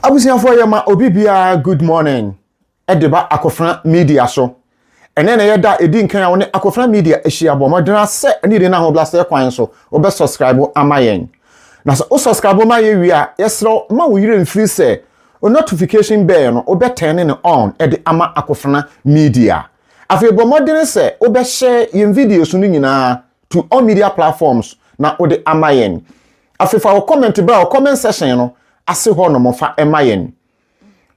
Abusuafoɔ yɛ ma obi biara good morning de ba Akofena Media so. Ɛnɛ na ɛyɛ da a ɛdi nkan a wo ne Akofena Media ahyia. Bɔ mmɔden ara sɛ ne yere no ahobrɛaseɛ kwan so wo bɛ subscribe ama yɛn. Na sɛ wo subscribe ma yɛn wie a, yɛsrɛ wo mma wo werɛ mfiri sɛ wo notification bell no wo bɛ turn no on de ama Akofena Media. Afei bɔ mmɔden sɛ wo bɛ share yɛn videos no nyinaa to all media platforms na wode ama yɛn. Afei fa wo comment bra wo comment section no ase hɔ nom fa ma yɛn.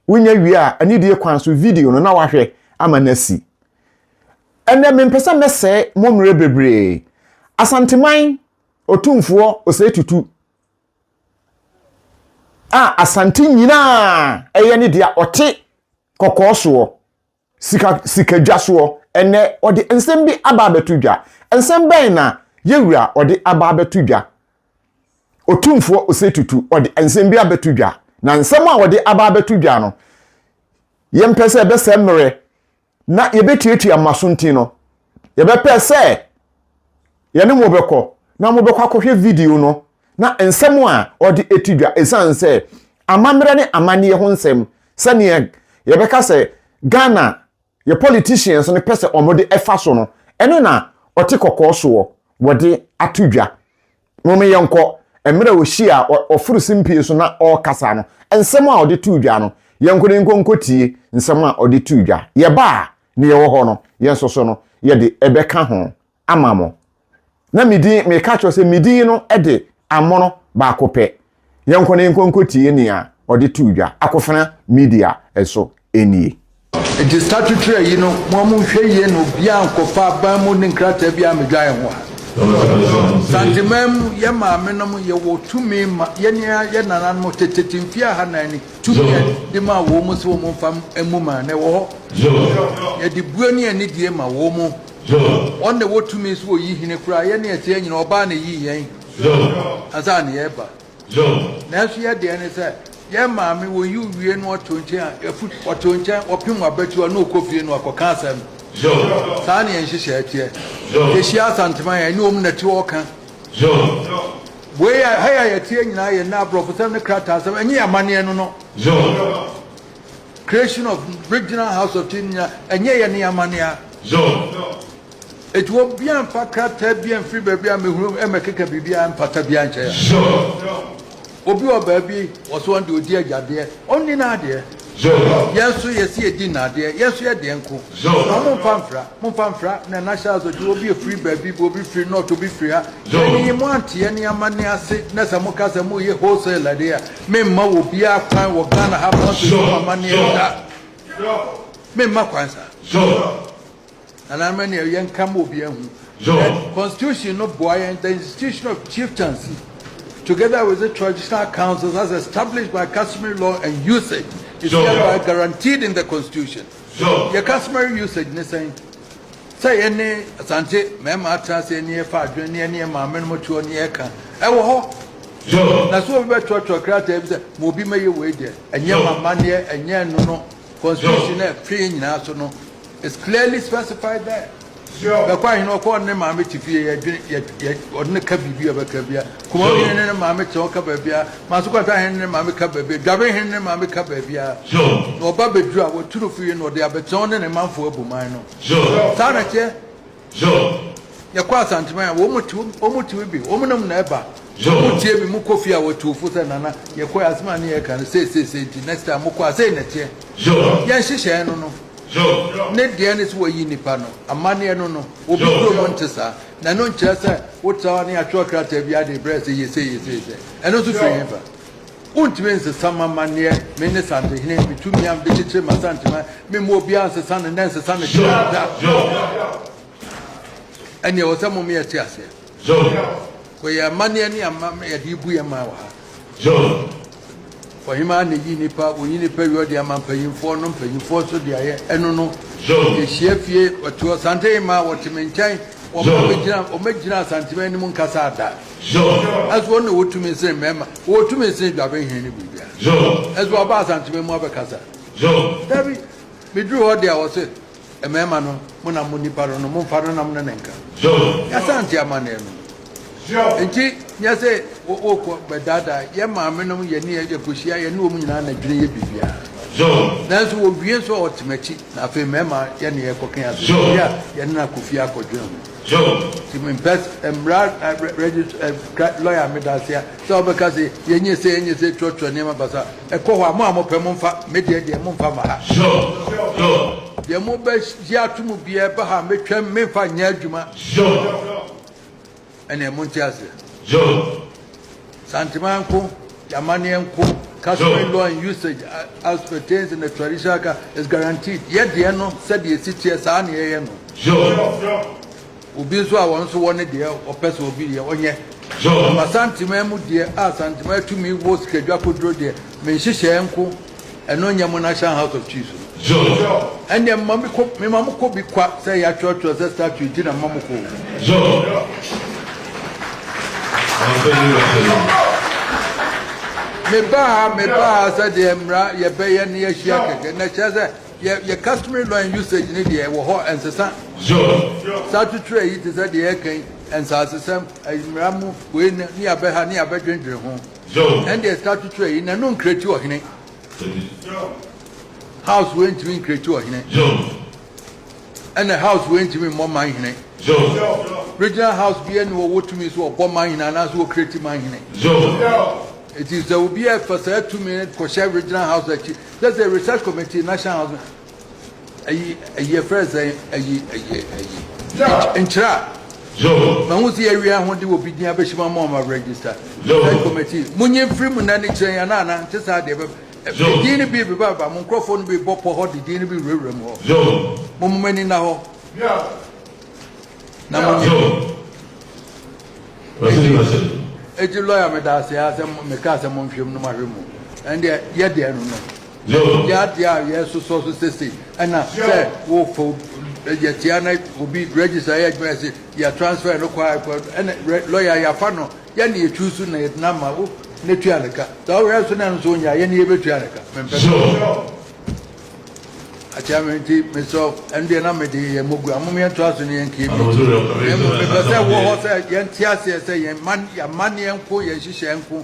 Wonya wie a, anidie kwan so video no na wahwɛ ama no asi. Ɛnɛ mempɛ sɛ mɛsɛe mo mmerɛ bebree. Asanteman Otumfoɔ Osei Tutu a Asante nyinaa ɛyɛ ne dea ɔte kɔkɔɔ soɔ. Sika sika dwa soɔ. Ɛnnɛ, ɔde nsɛm bi aba abɛto dwa. Nsɛm bɛn na yɛn Wura ɔde aba abɛto dwa? Otumfoɔ Osei Tutu ɔde nsɛm bi abɛto dwa. Na nsɛm a ɔde aba abɛto dwa no, yɛmpɛ sɛ ɛbɛsɛ mmerɛ na yɛbɛtuatua mmaso nti no, yɛbɛpɛ sɛ yɛne mo bɛkɔ na mobɛkɔ akɔhwɛ video no na nsɛm a ɔde ati dwa ɛsiane sɛ amammerɛ ne amanneɛ ho nsɛm sɛdeɛ yɛbɛka sɛ Ghana yɛ politicians no pɛ sɛ wɔde ɛfa so no ɛno na ɔte kɔkɔɔ soɔ wɔde ato dwa Mom yɛnkɔ. Mmerɛ a ɔhyiaa ɔ, ɔforo simpie so na ɔrekasa no, nsɛm a ɔde too dwa no, yɛnkɔ na yɛnkɔ nkɔtie nsɛm a ɔde too dwa. Yɛba a, nea ɛwɔ hɔ no, yɛn nso so no, yɛde bɛka ho ama mo. Na me din, meka kyerɛ wo sɛ, me din no de amono baako pɛ. Yɛnkɔ na yɛnkɔ nkɔtie nea ɔde too dwa akofena media so nie. Enti statutory ayi no moa mo nhwɛ yie na obiaa nkɔfa aban mu ne nkrataa biaa mmɛdwae ho ha. Santeman mu yɛ maame nom yɛ wɔ tumi ma yɛne yɛ nananom tetete mfie aha nan ni tumi a de maa wɔ mo sɛ wɔ mo nfa mmu man no ɛwɔ hɔ yɛ de bue ne anidie ma wɔ mo wɔn na ɛwɔ tumi sɛ wɔ yi hene koraa yɛne yɛteɛ nyina ɔbaa na ɛyii yɛn Ansa na yɛreba. Nanso yɛ deɛ ne sɛ, yɛn maame wɔyi wo wie na ɔte wo nkyɛn a, ɛfu ɔte wo nkyɛn, ɔpem w'abatiwa na ɔkɔ fie na wakɔka asɛm. Saa na yɛn nhyehyɛeɛ teɛ. Yɛhyia Asanteman a, ɛne wɔn na ɛte hɔ ɔka. Wei a, ha yi a yɛteɛ nyinaa yɛ nnɛ aborɔfosɛm ne krataasɛm, ɛnyɛ yɛn amanneɛ no no. Creation of Regional House of Chiefs nyinaa, ɛnyɛ yɛn ne yɛn amanneɛ a. Enti obiara mfa krataa biara mfiri baabi a mehunu mmɛkeka biribiara mpata biara nkyɛ yɛn. Obi wɔ baabi, ɔse ɔno deɛ ɔdi agyadeɛ, ɔnni n'adeɛ. Yɛn nso yɛse yɛdi nnadeɛ, yɛn nso yɛ deɛ nko. Na momfa mfra, momfa mfra, na na Charles ɔte obi afiri baabi bi, obi firi North, obi firi ha. Yɛn yi, moante yɛn ne amanne ase, na sɛ moka sɛ moreyɛ wholesale deɛ a, memma obiara kwan wɔ Ghana ha, monkɔsi mo amanneɛ da. Memma kwan saa. Anaa ma nea yɛn ka ma obiara hu. The constitution no boa yɛn the institution of chieftaincy together with the traditional councils as established by customary law and usage is hereby guaranteed in the constitution. Yɛ customary usage ne sɛn? Sɛ yɛne asante mmarima atena ase ne yɛfa adwene ne yɛne yɛn maame nom toɔ ne yɛka ɛwɔ hɔ. Na sɛ obi bɛtoatoa krataa bi sɛ ma obi mɛyɛ wei deɛ ɛnyɛ mamanneɛ ɛnyɛ ɛno no constitution no ɛfe nyinaa so no It's clearly specified there. Sure. Bɛkɔ ahene ɔkɔ ɔne ne maame te fie yɛdwene yɛ yɛ ɔne ne ka biribi a bɛka bia. Kuma Sure. hene ne ne maame te ɔka baabi a. Maso kwata hene ne ne maame ka baabi a. Dwabe hene ne ne maame ka baabi a. Sure. Na ɔba bɛduru a wɔtu no fie na ɔde abɛtena ɔne ne manfoɔ abu man no. Sure. Saa na ɛteɛ. Job. Yɛkɔ Asanteman a, wɔn te wɔn te bi, wɔn nam na ɛba. Job. Wɔn tie bi, mo kɔ fie a wɔtu ofo sɛ nana, yɛkɔ asem a ne yɛ kan sɛ sɛ sɛ nti next time mo kɔ asɛ na ɛteɛ. Job. Yɛn hyehyɛɛ no no. Job. Ne deɛ ne sɛ wɔyi nipa no, amaneɛ no no, obi Job. kuro mo nte saa, na ɛno nkyerɛ sɛ wotra hɔ ne atwerɛ krataa bi ade brɛ sɛ yɛ sɛ yɛ sɛ sɛ, ɛno nso firi hefa? Wontumi nsesa m'amanneɛ, me ne Santehene, me tumi a mede kyekyere m'Asanteman, memma obiara nsesa no nnɛ, nsesa no kyerɛ no da. Ɛnneɛ ɛwɔ sɛ moma yɛte aseɛ. Kɔ yɛn amanneɛ ne ama yɛde rebu yɛn man wɔ ha. Ɔhemaa na ɛyi nipa, ɔyi nipa wie ɔde ama mpanyimfoɔ no, mpanyimfoɔ nso de ayɛ ɛno no. Yɛhyia fie, ɔte hɔ, Santehene maa wɔte me nkyɛn, wɔma megyina, wɔmɛgyina Asanteman anim nkasa da. Ɛso ɔno na ɔtumi sen mmarima, ɔtumi sen dwabenhene ne biribiara. Ɛso ɔba Asanteme mu abɛkasa. Dabi, meduru hɔ deɛ ɔse, mmarima no, mo na mo nipa no no, momfa no na mo ne no nka. Y'Asante amanneɛ no. Nti, nyɛ sɛ wokɔ bɛdaadaa, yɛn maame nom, yɛne yɛ, yɛkɔhyia, yɛne wɔn nyinaa na dwene yɛ biribiara. Nanso wɔwie nso a ɔte m'akyi, na afei mmarima yɛne yɛkɔka asɛm bi a yɛne no akɔ fie akɔdwene ho. Job. Ti mi mpɛ mmara regist ɛ kra lɔya mi da aseɛ sɛ ɔbɛka se yɛ nyɛ se yɛ nyɛ se twerɛ twerɛ nneɛma basa ɛkɔ hɔ a mo a mo pɛ mo nfa me deɛ deɛ mo nfa ma ha. Job. Job. Deɛ mo bɛ gye ato mu biara ɛba ha me twɛm me nfa nyɛ adwuma. Job. Ɛneɛ mo nte aseɛ. Job. Santemaa nko, y'amanneɛ nko, customary law and usage as pertains in the traditional ka is guaranteed. Yɛ deɛ no sɛdeɛ esi teɛ saa na yɛyɛ no. Obi nso a wɔn nso wɔ ne deɛ ɔpɛ sɛ obi deɛ ɔnyɛ. Ama Santemaa mu deɛ a Santemaa tumi wɔ sikadwa koduro deɛ, me nhyehyɛɛ nko. Ɛno nyɛ mo national house of chiefs no. Ɛnneɛ mema me kɔ mema mo kɔ bi kwa sɛ yɛatwerɛtwerɛ sɛ statue nti na mema mo kɔ o. Mebaa ha mebaa ha sɛ deɛ mmara yɛbɛyɛ ne yɛahyia kɛkɛ na kyerɛ sɛ yɛ yɛ customary law and usage ne deɛ ɛwɔ hɔ ɛnsesa. Statue twerɛ yi te sɛ deɛ yɛka yi nsaasesɛm mmara mu wei ne yɛabɛha ne yɛabɛdwendwene ho. Ɛndeɛ saa tutuɛ yi nanu nkreti ɔhene house wei ntimi nkreti ɔhene ɛnɛ house wei ntimi mmɔ man hene regional house bi ɛne ɔwɔ tumi so ɔbɔ man hene anaasɛ ɔkreti man hene ɛti sɛ obi ɛfa saa tumi kɔhyɛ regional house akyi sɛ sɛ research committee national house Ayi, ayi, yɛfrɛ sɛn? Ayi, ayi, ayi. Nkyerɛ a. Mahu sɛ yɛawie a hode obi din abɛhyem ama ɔma register. Sɛ committee. Monye mfiri mu nna ne kyerɛ yɛn ana ana nte saa deɛ bɛba. Din no bi beba ba mo nkurɔfoɔ no bi bɔ pɔ hɔ de din no bi wurawura mu hɔ. Mo mo ani nna hɔ. Na monye. Eti lawyer meda ase a sɛ meka sɛ monhwɛ mu no mahwɛ mu. Ɛndeɛ yɛdeɛ no no. Nyɛ adeɛ a yɛresosɔ so sesei ɛna sɛ wofa obi yɛtia na obi register yɛ adwuma yɛse yɛ transfer no kɔ a ɛna lawyer yɛafa no yɛne yɛ choose na yɛde no ama wo na tua ne ka saa ɔyɛ nso na ɛno nso ɔnya yɛne yɛbɛtua ne ka mempɛ sɛ akyɛ me nti mesɛ ɛno deɛ na mede yɛ mogu amom yɛntoa so ne yɛnkeɛ bi mepɛ sɛ wɔ hɔ sɛ yɛnte aseɛ sɛ yɛn man yɛamanneɛ nko yɛn nhyehyɛɛ nko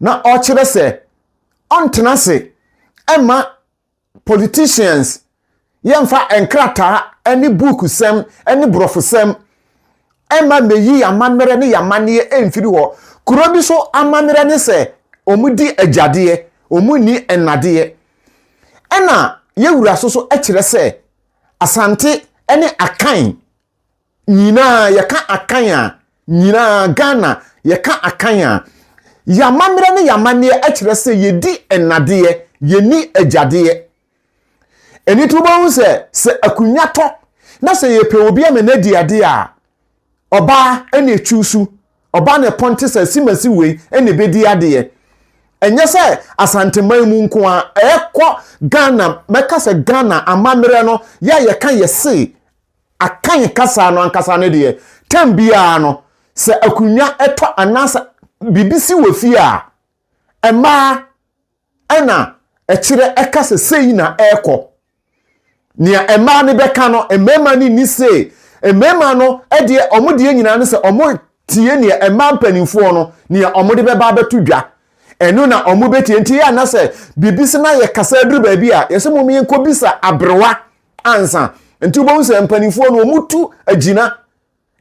na ɔkyerɛ sɛ ɔntena ase mma politicians yɛmfa nkrataa ne buukusɛm ne borɔfosɛm mma mmeyi y'amammerɛ ne y'amanneɛ mfiri hɔ. Kuro bi so amammerɛ ne sɛ wɔdi agyadeɛ, wɔnni nnadeɛ. Ɛna Yɛwura so so kyerɛ sɛ Asante ne Akan Nyinaa yɛka Akan a, nyinaa Ghana yɛka Akan a, yɛn amammerɛ ne yɛn amanneɛ kyerɛ sɛ yɛdi nnadeɛ, yɛnni agyadeɛ. Ɛno nti wobɛhu sɛ, sɛ akonnwa tɔ na sɛ yɛpɛ obi ama no adi adeɛ a, ɔbaa na ɛchuusu, ɔbaa na ɛpɔnte sɛ simasi wei na ɛbɛdi adeɛ. Ɛnyɛ sɛ Asanteman mu nko ara, ɛkɔ Ghana, mɛka sɛ Ghana amammerɛ no, yɛ a yɛka yɛse Akan kasa no ankasa no deɛ, tɛm biara no, sɛ akonnwa tɔ anaasɛ biribi si wɔ fie a, mmaa na ɛkyerɛ, ɛka sɛ sei na ɛrekɔ. Nea mmaa no bɛka no, mmarima no nni sei. Mmarima no deɛ, wɔn deɛ nyinaa no sɛ wɔtie nea mmaa mpanimfoɔ no, nea wɔde bɛba abɛto dwa. Ɛno na wɔbɛtie. Nti yɛ ana sɛ biribi sɛ na yɛkasa aduru baabi a, yɛsɛ mom yɛnkɔbisa aberewa ansa nti wobɛhu sɛ mpanimfoɔ no wɔtu agyina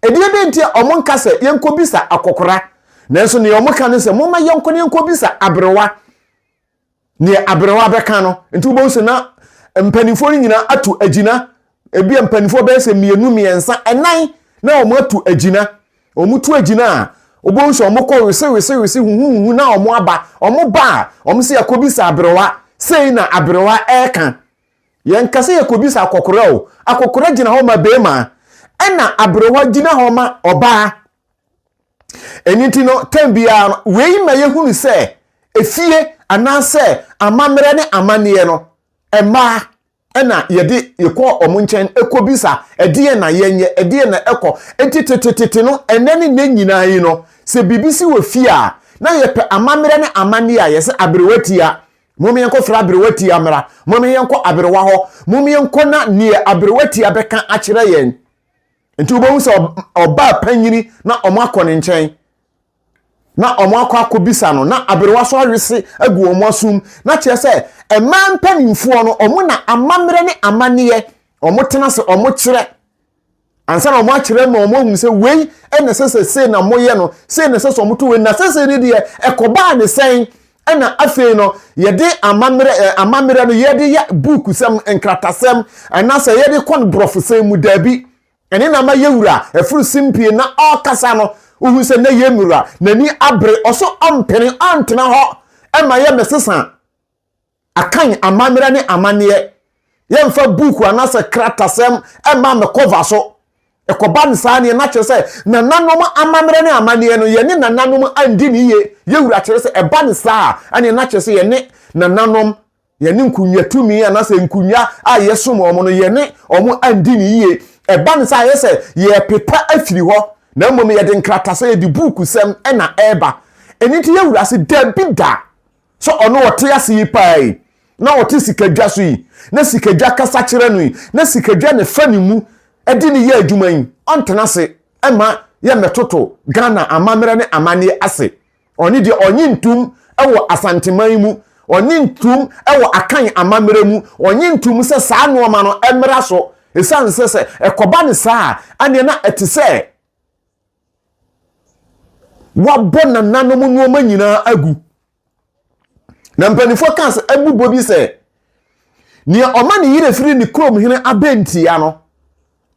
ɛdeɛ dɛ nti a wɔn nka sɛ yɛnkɔbisa akɔkora nanso neɛ wɔn ka no sɛ momma yɛnkɔ no yɛnkɔbisa aberewa neɛ aberewa bɛka no nti wobɛhu sɛ na mpanimfoɔ no nyinaa atu agyina ebi a mpanimfoɔ bɛyɛ sɛ mmienu mmiɛnsa ɛnan na wɔn atu agyina wɔn tu agyina a wɔbɛhu sɛ wɔn kɔ wese wese wese huhuhu na wɔn aba wɔn ba a wɔn sɛ yɛkɔbisa aberewa sei na aberewa ɛreka Yɛnka sɛ yɛkɔbisa akɔkora o, akɔkora gyina hɔ ma barima ɛna aberewa gyina hɔ ma ɔbaa. Ɛno nti no, tɛm biara no, wei ma yɛhunu sɛ efie anaasɛ amammerɛ ne amanneɛ no, mmaa ɛna yɛde yɛkɔ wɔn nkyɛn kɔbisa ɛdeɛ na yɛnyɛ, ɛdeɛ na ɛkɔ. Nti tetetete no, ɛnɛ ne nnɛ nyinaa yi no, sɛ biribi si wɔ fie a, na yɛpɛ amammerɛ ne amanneɛ a yɛsɛ aberewa tia Mom yɛnkɔ frɛ aberewa tia mmra. Mom yɛnkɔ aberewa hɔ. Mom yɛnkɔ na neɛ aberewa tia bɛka akyerɛ yɛn. Nti wobɛhu sɛ ɔbaa panyini na ɔmo akɔ ne nkyɛn. Na ɔmo akɔ akɔ bisa no. Na aberewa so awese agu wɔn asum. Na kyerɛ sɛ mmaa mpanimfoɔ no ɔmo na amammerɛ ne amanneɛ ɔmo tena se ɔmo kyerɛ. ansa na wɔakyerɛ ma wɔahunu sɛ wei na ɛsɛ sɛ sei na moyɛ no sei na ɛsɛ sɛ wɔto wei na sɛsei no deɛ ɛkɔbaa ne sɛn ɛna afei no yɛde amammerɛ eh, amammerɛ no yɛde yɛ buukusɛm nkratasɛm anaasɛ yɛde kɔ no borɔfosɛm mu daabi ɛne na ma yɛwura ɛforo simpie na ɔkasa no wohu sɛ na yɛ mmura n'ani abere ɔso ɔmpene ɔntena hɔ ɛma yɛ mɛsesa Akan amammerɛ ne amanneɛ. Yɛmfa buuku anaasɛ kratasɛm mma me kɔva so. Ɛkɔba no saa neɛ, na kyerɛ sɛ nananom amammerɛ ne amanneɛ no, yɛne nananom andi no yie. Yɛwura kyerɛ sɛ ɛba no saa a, ɛneɛ na kyerɛ sɛ yɛne nananom, yɛne nkonnwa tumi anaasɛ nkonnwa a yɛsom wɔn no, yɛne wɔn andi no yie. Ɛba no saa a, ɛyɛ sɛ yɛrepepa afiri hɔ, na mmom yɛde nkratasɛm, yɛde buukusɛm na ɛreba. Ɛno nti yɛwura se, Dabi da! Sɛ ɔno ɔte ase yi paa yi, na ɔte sikadwa so yi, na sikadwa kasa kyerɛ no yi, na sikadwa na ɛfa ne mu de no yɛ adwuma yi, ɔntena ase mma yɛmmɛtoto Ghana amammerɛ ne amanneɛ ase. Ɔne deɛ ɔnye ntom wɔ Asanteman mu, ɔnye ntom wɔ Akan amammerɛ mu, ɔnye ntom sɛ saa nnoɔma no mmra so, ɛsiane sɛ sɛ ɛkɔba no saa a, ɛnneɛ na ɛte sɛ Wɔabɔ nananom nneɛma nyinaa agu. Na mpanimfoɔ kaa sɛ abubɔ bi sɛ nea ɔma ne yere firi ne kurom hene abɛntia no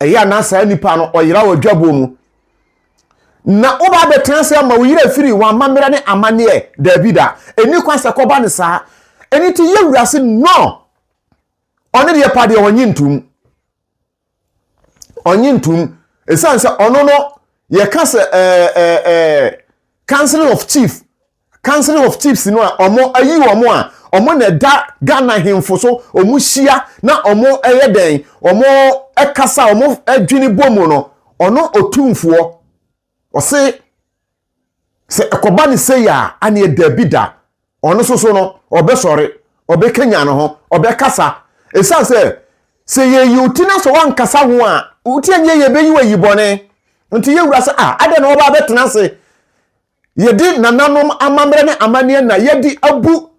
ɛyɛ a na saa nipa no ɔyera wɔ dwaboɔ mu na woba abɛtena ase ama wo yere firi wɔn amammerɛ ne amanneɛ daabi da ɛni kwan sɛ kɔba ne saa ɛni ti yɛ wura se no ɔne deɛ pa deɛ ɔnye ntom ɔnye ntom ɛsiane sɛ ɔno no yɛka sɛ ɛɛ ɛɛ ɛɛ council of chief council of chiefs no a ɔmo ayi ɔmo a ɔmo na ɛda ghana hemfo so ɔmo hyia na ɔmo ɛyɛ dɛn ɔmo ɛkasa ɔmo adwini bɔ mu no ɔno otumfoɔ Ɔse sɛ ɛkɔba no sei a, aneɛ daabi da, ɔno nso so no, ɔbɛsɔre, ɔbɛkanyan ne ho, ɔbɛkasa. Ɛsiane sɛ, sɛ yɛyi wo ti na sɛ woankasa ho a, wo ti annyɛ yie, ɛbɛyi wo ayi bɔne. Nti yɛn wura sɛ, ah, adɛn na wɔba abɛtena ase? Yɛde nananom amammerɛ ne amanneɛ na yɛde abu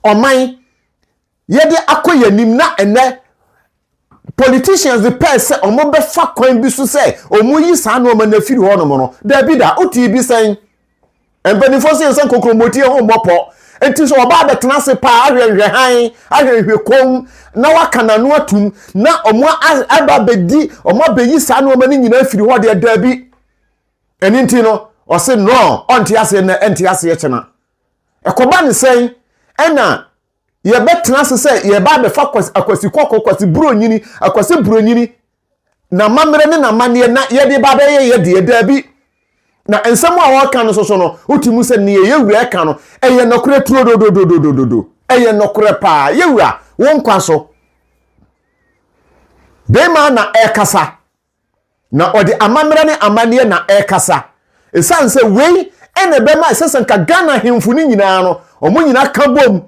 ɔman yɛde akɔ yɛn anim na ɛnɛ politicians de pɛɛ sɛ wɔbɛfa kwan bi so sɛ wɔyi saa nneɛma no afiri hɔnom no daabi da wote bi sɛn mpanimfoɔ sɛ yɛsɛ nkokromoti ho mmɔpɔ nti sɛ ɔbaa bɛtena ase paa ahwɛ nhwɛhan ahwɛ nhwɛ kɔm na waka n'ano atum na wɔn aba bɛdi wɔn abɛyi saa nneɛma no nyinaa afiri hɔ deɛ daabi ɛno nti no ɔse no ɔnte aseɛ na ɛnte aseɛ kyena Ɛkɔba ne sɛn ɛna yɛbɛtena ase sɛ yɛba abɛfa akwasi kɔkɔɔ, akwasi buronyini, akwasi buronyini, n'amammerɛ ne n'amanneɛ na yɛde ba abɛyɛ yɛ deɛ daabi. Na nsɛm a wɔka no soso no, wote mu sɛ nea yɛ wura ka no, ɛyɛ nɔkorɛ turo dodododododo. Ɛyɛ nɔkorɛ paa. Yɛ wura, wo nkwa so. Bɛrima na ɛkasa. na ɔde amammerɛ ne amanneɛ na ɛrekasa. Ɛsiane sɛ wei na ɛbɛma ɛsɛ sɛ nka Ghana ahemfo no nyinaa no, wɔn nyinaa ka bom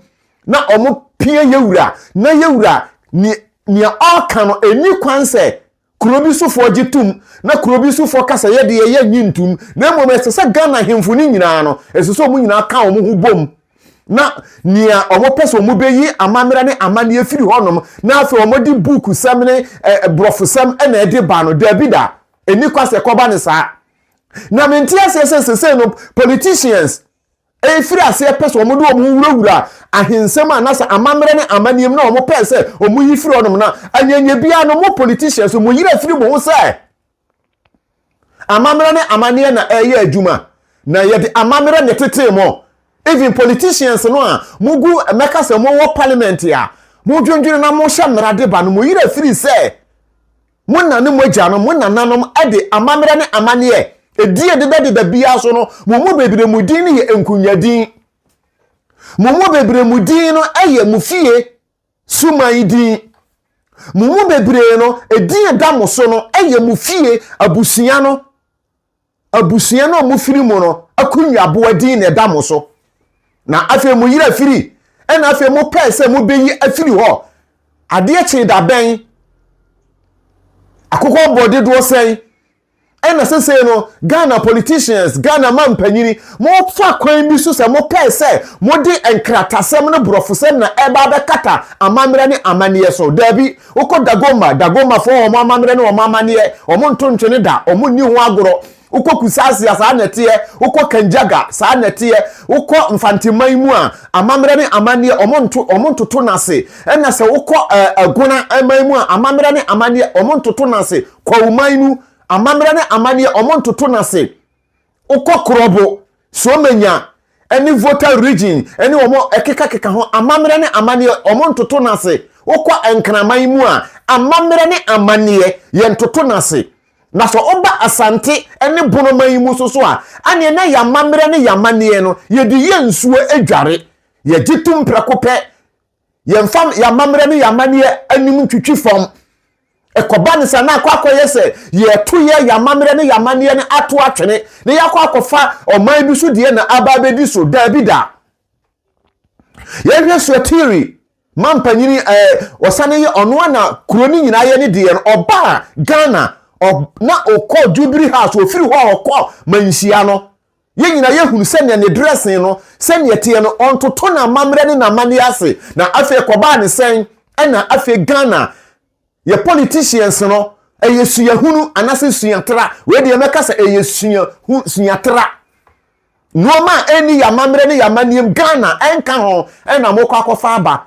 na wɔpia Yewura, na Yewura nea ɔreka no, ɛnni kwan sɛ kuro bi sofoɔ gye tom, na kuro bi sofoɔ ka sɛ yɛdeɛ yɛnnye ntom, na mmom ɛsɛ sɛ Ghana ahemfo no nyinaa no, ɛsɛ sɛ wɔn nyinaa ka wɔn ho bom. na nea wɔpɛ sɛ wɔbɛyi amammerɛ ne amanneɛ firi hɔnom na afei wɔde buukusɛm ne borɔfosɛm na ɛde ba no daabi da ɛni kwa sɛ kɔba ne saa na mente aseɛ sɛ sesei no politicians ɛfiri aseɛ pɛ sɛ wɔde wɔn ho wurawura ahensɛm a nasɛ amammerɛ ne amanneɛm na wɔpɛ sɛ wɔyi firi hɔnom na anyanyɛ biara no mo politicians mo yerɛ firi mo ho sɛ Amammerɛ ne amanneɛ na ɛyɛ adwuma na yɛde amammerɛ na ɛtetee mo. Even politicians no a mogu mɛka sɛ mowɔ parliament a modwendwene na mohyɛ mmara de ba no mo yerɛ firi sɛ mo na ne mo agyanom, mo nananom de amammerɛ ne amanneɛ ɛdie deda deda biara so no mo mu bebree mo din no yɛ nkunya din. Mo mu bebree mo din no ɛyɛ mo fie Suman yi din. Mo mu bebree no, edin a ɛda mo so no yɛ mo fie abusua no, abusua no a mofiri mu no akonyaboa din na ɛda mo so. Na afei mo yere afiri, ɛna afei mopɛɛ sɛ mobeyi afiri hɔ. Adeɛ kyee da bɛn? Akokɔ bɔ dodoɔ sɛn? Ɛna sesei no Ghana politicians, Ghana mampanyini, mo fa kwan bi so sɛ mo pɛɛ sɛ mo de nkratasɛm no brɔfosɛm na ɛba abɛkata amammerɛ ne amanneɛ so. Daabi, wo kɔ Dagomba, Dagombafo wɔn amammerɛ ne wɔn amanneɛ, wɔn nto ntwene da, wɔn nni ho agorɔ. Wo kɔ Kusasia, saa na ɛteɛ, wo kɔ Kanjaga, saa na ɛteɛ, wo kɔ Mfanteman mu a, amammerɛ ne amanneɛ, wɔn nto, wɔn ntoto no ase. Ɛna sɛ wo kɔ ɛɛ Agona man mu a, amammerɛ ne amanneɛ, wɔn ntoto no ase. Kwawu man mu amammerɛ ne amanneɛ, wɔntoto no ase. Wokɔ Krobo, Suomenya, ne Voter Region ne wɔn a ɛkekakeka ho amammerɛ ne amanneɛ, wɔntoto no ase. Wokɔ Nkraman mu a, amammerɛ ne amanneɛ, yɛntoto no ase. Na sɛ woba Asante ne Bono man mu nso so a, ɛnneɛ na yɛn amammerɛ ne yɛn amanneɛ no, yɛde yɛ nsuo dware. Yɛgye tom prɛko pɛ. yɛmfa yɛn amammerɛ ne yɛn amanneɛ anim ntwitwi fam ɛkɔba ne sa na akɔ akɔyɛ sɛ yɛto yɛ yɛn amammerɛ ne yɛn amanneɛ no ato atwene na yɛakɔ akɔfa ɔman bi so deɛ na aba abɛdi so daabi da yɛhwɛ suatiri ma mpanyini ɛɛ eh, ɔsane yɛ ɔno a na kuro no nyinaa yɛ ne deɛ no ɔbaa ghana na ɔkɔ jubilee house ɔfiri hɔ ɔkɔ manhyia no Yɛn nyinaa yɛhunu sɛ nea ne dressing no, sɛnea ɛteɛ no, ɔntoto n'amammerɛ ne n'amanneɛ ase. Na afei ɛkɔbaa ne sɛn? Ɛna afei Ghana, yɛ politicians no, ɛyɛ suahunu anaasɛ suatra. Wei deɛ mɛka sɛ ɛyɛ suahu, suatra. Nnoɔma a ɛnni yɛn amammerɛ ne yɛn amanneɛm, Ghana, ɛnka ho, ɛna mokɔ akɔfa aba.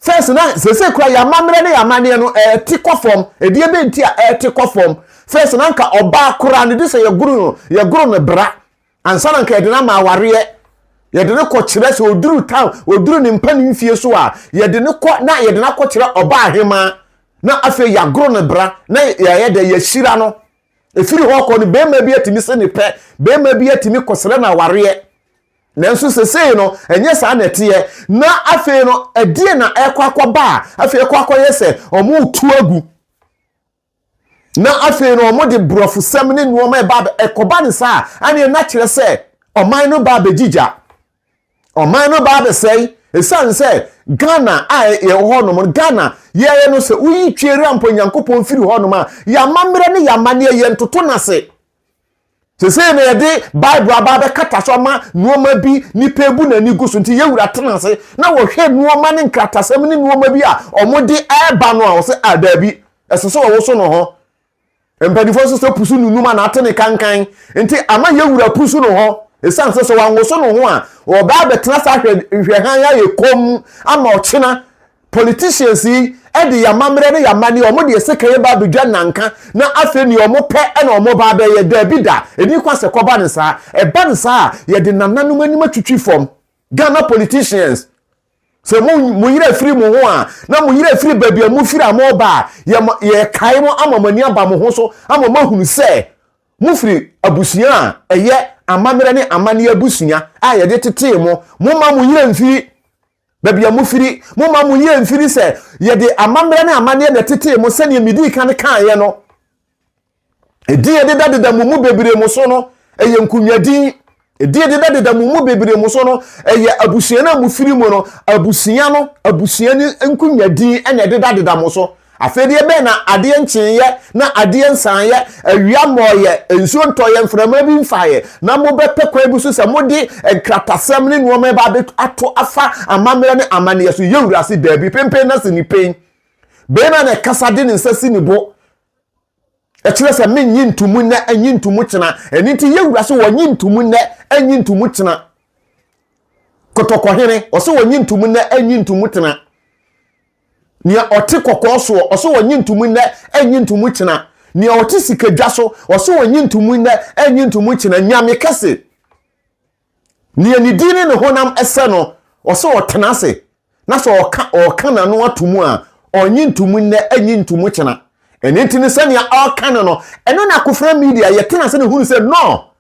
First na sese kura yamammerɛ ne yamanneɛ no ɛte kɔ fam ɛdeɛ bɛ nti a ɛte kɔ fam first na nka ɔbaa kura ne de sɛ yɛgoro no yɛgoro no bra ansa na nka yɛde no ama awareɛ yɛde no kɔkyerɛ sɛ ɔduru town ɔduru ne mpa ne mfie so a yɛde no kɔ na yɛde no akɔkyerɛ ɔbaa ahemaa na afei yɛagoro no bra na yɛyɛ dɛ yɛahyira no ɛfiri hɔ kɔ no bɛrima bi atumi se ne pɛ bɛrima bi atumi kɔsrɛ no awareɛ nanso sesei no ɛnyɛ saa na ɛteɛ na afei no ɛdeɛ na ɛkɔ akɔba a afei ɛkɔ akɔyɛ sɛ wɔn tu agu na afei no wɔn de borɔfosɛm ne nneɛma ɛba ɛkɔba ne saa ɛne na kyerɛ sɛ ɔman no ba abɛgyigya ɔman no ba abɛsɛe ɛsiane sɛ ghana a yɛwɔ hɔnom no ghana yɛyɛ no sɛ woyi twere ampa onyankopɔn firi hɔnom a yɛamammerɛ ne yɛamanneɛ yɛntoto no ase Sesei na yɛde Bible aba abɛkata so ama nneɛma bi nipa ebu n'ani gu so nti yɛn wura tena ase na wɔhwɛ nneɛma ne nkratasɛm ne nneɛma bi a wɔde ɛreba no a wɔsɛ a daabi ɛsɛ sɛ wɔwoso no hɔ mpanimfoɔ nso sɛ pusu nunum a n'ate ne kankan nti ama yɛn wura pusu no hɔ ɛsiane sɛ sɛ wɔanwoso no ho a wɔbɛ abɛtena ase ahwɛ nhwɛhan ayɛ kɔm ama ɔkyena politicians yi de yɛ amammerɛ ne yɛ amanneɛ wɔn deɛ sekan yɛ ba abɛdwa nanka na afei nea wɔn pɛ na wɔn ba abɛyɛ daabi da ɛni kwa sɛ kɔba ne saa ɛba ne saa a yɛde nananom anim atwitwi fam Ghana politicians sɛ mo mo yere afiri mo ho a na mo yere afiri baabi a mo firi a mo ba a yɛ yɛ kae mo ama mo ani aba mo ho so ama mo ahunu sɛ mo firi abusua a ɛyɛ amammerɛ ne amanneɛ abusua a yɛde tetee mo mo ma mo yere mfiri Baabi a mofiri, momma mo yea mfiri sɛ yɛde amammerɛ ne amanneɛ na ɛtetee mo sɛdeɛ medii kan kaeɛ no. Edin a ɛdedadeda mo mu bebree mo so no, ɛyɛ nkonnwadin. Edin a ɛdedadeda mo mu bebree mo so no, ɛyɛ abusua no a mofiri mu no, abusua no, abusua no nkonnwadin na ɛdedadeda mo so. Afei deɛ bɛn na adeɛ nkyeeɛ na adeɛ nsaeɛ, awia mmɔeɛ, nsuo ntɔeɛ, mframa bi mfaeɛ, na mobɛpɛ kwan bi so sɛ mode nkratasɛm ne nnoɔma ɛba abɛ ato afa amammerɛ ne amanneɛ so? Yɛn Wura se, Daabi, penpen na si ne pen. Barima na ɛkasa de ne nsa si ne bo. Ɛkyerɛ sɛ mennye ntomu nnɛ, nnye ntomu kyena. Ɛno nti yɛwura sɛ wɔnye ntomu nnɛ, nnye ntomu kyena. Kɔtɔkɔhene, ɔsɛ wɔnye ntomu nnɛ, nnye ntomu kyena. Nea ɔte kɔkɔɔ soɔ, ɔsɛ wɔnye ntomu nnɛ, nnye ntomu kyena. Nea ɔte sikadwa so, ɔsɛ wɔnye ntomu nnɛ, nnye ntomu kyena. Nyame kɛse. Nea ne din ne ne honam sɛ no, ɔsɛ ɔtena ase, na sɛ ɔka ɔka n'ano ato mu a, ɔnye nto mu nnɛ, nye nto mu kyena. Ɛno nti no, sɛnea ɔka no no, ɛno na akofena media yɛtena ase na hunu sɛ no,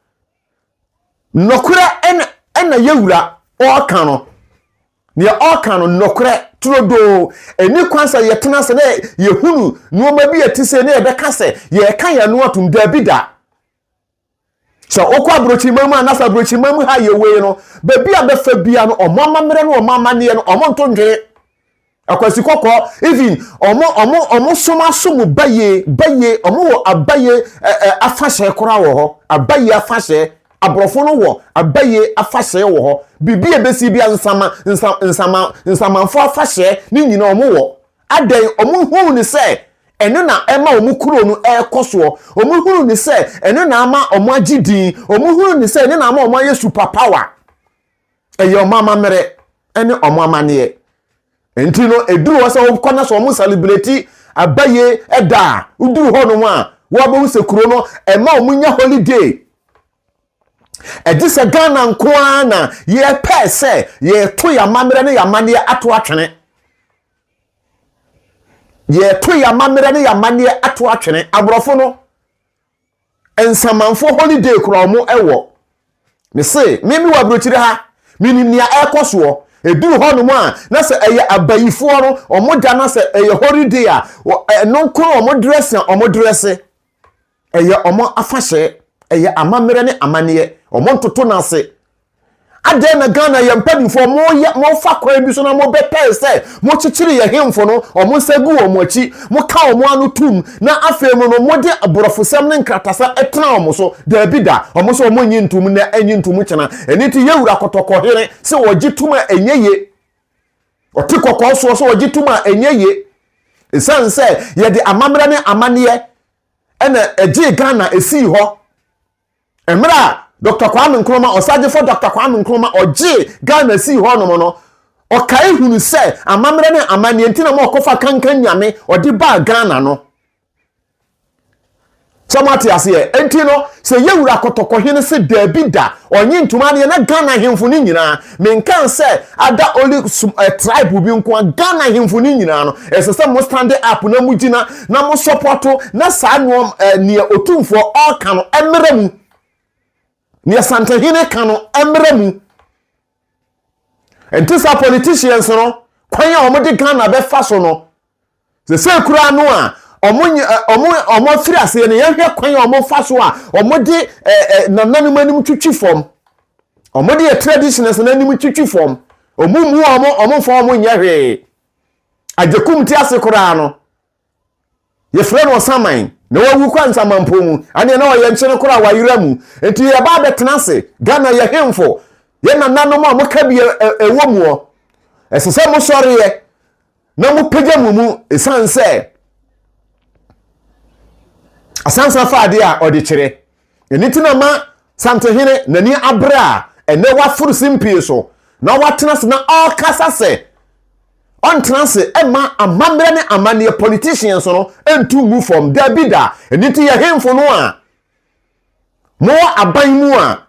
nɔkorɛ ɛna ɛna yɛ wura ɔka no. Nea ɔka no nɔkorɛ turodoo. Ɛni kwan sɛ yɛtena ase na yɛhunu nneɛma bi a ɛte sɛ na yɛbɛka sɛ yɛka yɛn ano atom. Daabi da. Sɛ wokɔ aburokyiman mu anasa aburokyiman mu ha yɛ wei no, baabi a bɛfa bia no, wɔn amammerɛ no wɔn amanneɛ no, wɔn nto ndwene. Akwasi kɔkɔɔ, even wɔn wɔn wɔn som aso mu bayie bayie, wɔn wɔ abayie ɛɛ afahyɛ koraa wɔ hɔ, abayie afahyɛ. Aborɔfo no wɔ abayie afahyɛ wɔ hɔ. Biribi a ebesi bia nsama nsa nsama nsamanfo afahyɛ ne nyinaa wɔn wɔ. Adɛn, wɔhunuu no sɛ ɛno na ɛma wɔn kuro no rekɔ soɔ, wɔhunuu no sɛ ɛno na ama wɔagye din, wɔhunuu no sɛ ɛno na ama wɔayɛ super power. Ɛyɛ wɔn amammerɛ ne wɔn amanneɛ. Nti no, ɛduru hɔ sɛ wɔkɔ na sɛ wɔn celebrate abayie ɛda a, woduru hɔ nom a, wɔabɛhu sɛ kuro no ɛma wɔn nya holiday. Ɛgye sɛ Ghana nko ara na yɛpɛɛ sɛ yɛto yɛn amammerɛ ne yɛn amanneɛ ato atwene. yɛto yɛn amammerɛ ne yɛn amanneɛ ato atwene aborɔfo no nsamanfo holiday kura wɔn ɛwɔ me se me me wɔ aburokyire ha menim nea ɛrekɔ soɔ ɛduru hɔ nom a na sɛ ɛyɛ abayifoɔ no wɔn da na sɛ ɛyɛ holiday a ɛno nko na wɔn dress a wɔn dress Ɛyɛ wɔn afahyɛ, ɛyɛ amammerɛ ne amanneɛ, wɔn ntoto no ase. Adɛn na Ghana yɛ mpanimfoɔ moyɛ mofa kwan bi so na mobɛpɛe sɛ mokyekyere yɛ hemfo no, wɔn nsa gu wɔn akyi, moka wɔn ano tom na afei mu no mode aborɔfosɛm ne nkratasɛm tena wɔn so? Daabi da, wɔn nso wɔn nnye ntom nnɛ, ɛnnye ntom kyena. Ɛno nti yɛwura kɔtɔkɔhene sɛ wɔgye tom a ɛnyɛ ye, ɔte kɔkɔɔ soɔ sɛ wɔgye tom a ɛnyɛ ye, ɛsiane sɛ yɛde amammerɛ ne amanneɛ ɛna ɛgyee Ghana ɛsii hɔ. Mmerɛ a Dr. Kwame Nkrumah, ɔsagyefo Dr. Kwame Nkrumah, ɔgyee Ghana sii hɔ nom no, ɔkae hunu sɛ amammerɛ ne amanneɛ nti na ma ɔkɔfa kankan nyame ɔde baa Ghana no. sɛ mo ate aseɛ enti no sɛ yɛwura kɔtɔkɔhene se daabi da ɔnye ntoma adeɛ na Ghana ahemfo no nyinaa Menkan sɛ ada only some eh, tribe bi nko a, Ghana ahemfo no nyinaa no, ɛsɛ sɛ mo stand up na mo gyina na mo support na saa nneɛma eh, nea otumfoɔ ɔka no ɛmmerɛ mu. Nea Santahene ka no ɛmmerɛ mu. Ɛnti saa politicians no, kwan a wɔde Ghana bɛfa so no, Sesei koraa no a wɔafiri aseɛ no, yɛhwɛ kwan a wɔfa so a wɔde nananom anim twitwi fam. Wɔde yɛ traditions no anim twitwi fam. Wɔn mu wɔn, wɔn mfa wɔn nyɛ hwee. Agyekum ti ase koraa no, yɛfrɛ no ɔsaman na wawu kɔ nsamanpɔ mu. Ɛnneɛ na ɔyɛ nkyene koraa wayera mu. Nti yɛba abɛtena ase. Ghana yɛ hemfo. Yɛ nananom a wɔka bi ɛwɔ muɔ. Ɛsɛ sɛ mosɔreɛ. na mopagya mo mu ɛsiane sɛ asansa fa adeɛ a ɔde kyerɛ ɛno ti na ma santehene n'ani abere a ɛnɛ waforo simpie so na watena se na ɔkasa sɛ ɔntena se ɛma amammerɛ ne amanneɛ politicians no ntu ngu fam daabi da ɛno ti yɛ hemfo no a mowɔ aban mu a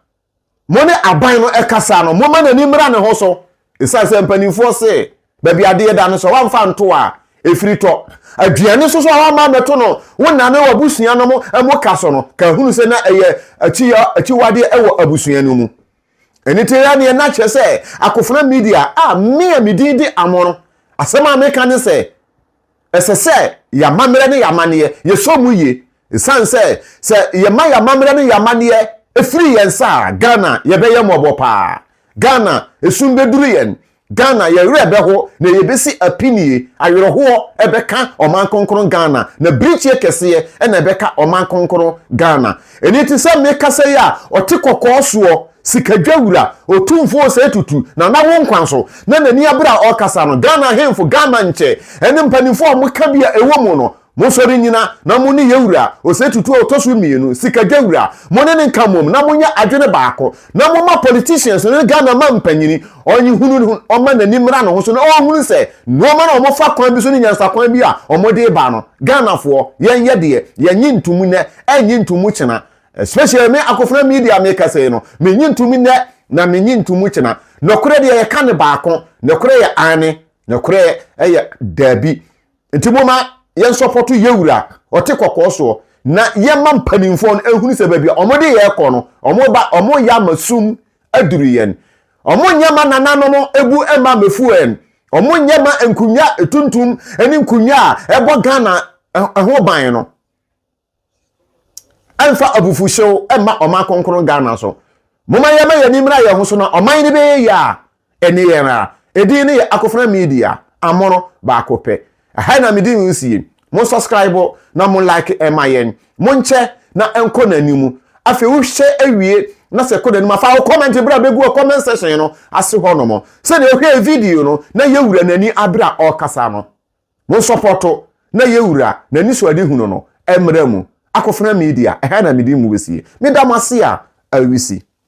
Mo ne aban no kasa no, momma n'ani mmra ne ho so. Esiane sɛ mpanimfoɔ se baabi adeɛ da no, sɛ wamfa anto a, ɛfiri tɔ. Aduane nso so a wamma ammɛto no, wo nna ne w'abusua nom mo ka so no, ka hunu sɛ na ɛyɛ akyiyɔ, akyiwadeɛ wɔ abusua no mu. Ɛno ti ara neɛ na kyerɛ sɛ Akofena Media a me a me din de Amono, asɛm a meka ne sɛ, ɛsɛ sɛ yɛn amammerɛ ne yɛn amanneɛ, yɛsɔ mu yie. Ɛsiane sɛ sɛ yɛma yɛn amammerɛ ne yɛn amanneɛ firi yɛn nsa a, Ghana, yɛbɛyɛ mmɔbɔ paa. Ghana, esum bɛduru yɛn. Ghana, yɛn werɛ bɛho, na yɛbɛsi apinie. Awerɛhoɔ bɛka ɔman kronkron Ghana, na birikyeɛ kɛseɛ na ɛbɛka ɔman kronkron Ghana. Ɛno nti sɛ mekasa yi a, ɔte kɔkɔɔ soɔ, Sikadwa wura, Otumfoɔ Osei Tutu, Nana Wonkwanso, na n'ani abere a ɔrekasa no, Ghana Ahemfo, Ghana Nkyɛ, ɛne mpaninfoɔ a wɔka bi a ɛwɔ mu no, monsɔre nnyina na mo ne yɛn wura, Osei Tutu a ɔtɔ so mmienu, Sikadwa wura, mo ne no nka mmom na monyɛ adwene baako, na momma politicians no ne Ghana mampanyini, ɔnyehunu no, ɔmma n'ani mmra ne ho so na ɔnhunu sɛ nnoɔma no a wɔfa kwan bi so ne nyansakwan bi a wɔde reba no, Ghanafoɔ, yɛnyɛ deɛ, yɛnnye ntomu nnɛ. Ɛnye nto mu kyena especially me Akofena Media me kasa yi no menye nto mu nɛ na menye nto mu kyena. Nɔkorɛ deɛ yɛka ne baako, nɔkorɛ yɛ aane, nɔkorɛ yɛ daabi. Nti moma yɛn sɔpɔto yɛwura ɔte kɔkɔɔ soɔ na yɛma mpaninfoɔ no ɛhunu sɛ baabi a ɔmo de yɛn kɔ no ɔmo ba ɔmo yɛ ama sum aduru yɛn. Ɔmo nyɛ ma nananom ɛbu ɛma mɛfu yɛn. Ɔmo nyɛ ma nkunnwa ɛtuntum ɛne nkunnwa a ɛbɔ Ghana ɛho ban no. Ɛmfa abufuhyew mma ɔman kronkron Ghana so. Momma yɛmma yɛn ani mmra yɛn ho so na ɔman no bɛyɛ yie a, ɛne yɛn ara. Edin no yɛ Akofena Media, Amono baako pɛ. Ɛha na me din nsie. Mo subscribe na mo like mma yɛn. Monkyɛ na ɛnkɔ n'anim. Afei wohwɛ awie na sɛ ɛkɔ n'anim a, fa wo comment bra bɛgu wɔ comment section no ase hɔnom sɛdeɛ wohwɛɛ video no na yɛwura n'ani abere a ɔrekasa no. Monsɔpɔto na yɛwura n'anisoadehunu no mmara mu, Akofena Media, ɛha na mede mmu bɛsie. Meda mo ase a, Awisi.